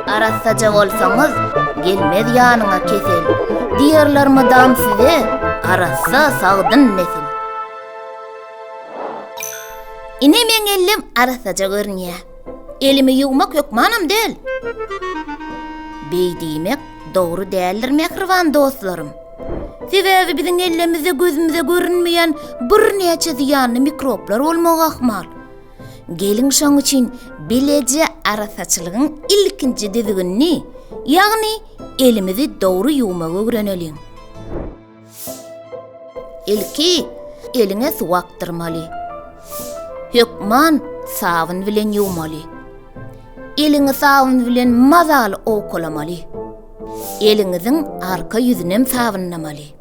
Arassaja bolsaňyz, gelmez ýanyňa kesel. Diýerler mydam size, arassa sagdyn nesil. Ine meň ellim arassaja görünýär. Elimi ýuwmak hökmanam däl. Beý diýmek dogry däldir, mähriban dostlarym. Sebäbi biziň ellemizde gözümize görünmeýän birnäçe zyýanly mikroblar bolmagy ahmal. Geliň şoň üçin bileje arassaçylygyň ilkinji düzgünini, ýagny elimizi dogry ýuwmagy öwreneliň. Ilki eliňe suw akdyrmaly. Hökman sabyn bilen ýuwmaly. Eliňi sabyn bilen mazaly owkalamaly. Eliňiziň arka ýüzünem sabynlamaly.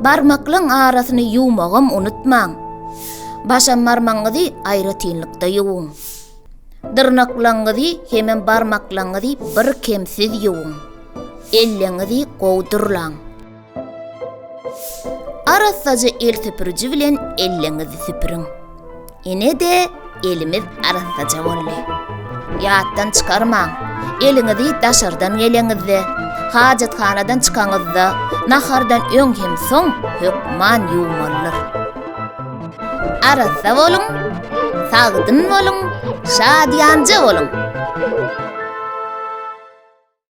Barmaklaň arasyny ýuwmagam unutmaň. Başam barmagyňyzy aýratynlykda ýuwuň. Dyrnaklaňyzy hemem barmaklaňyzy birkemsiz ýuwuň. Elleňizi gowy durlaň. Arassaja el süpüriji bilen elleňizi süpüriň. Ine-de, elimiz arassaja boldy. Ýatdan çykarmaň, eliňizi daşardan geleňizde, hajathanadan çykaňyzda, nahardan öň hem soň hökman ýuwmalydyr. Arassa boluň, sagdyn boluň, şadyýanja boluň!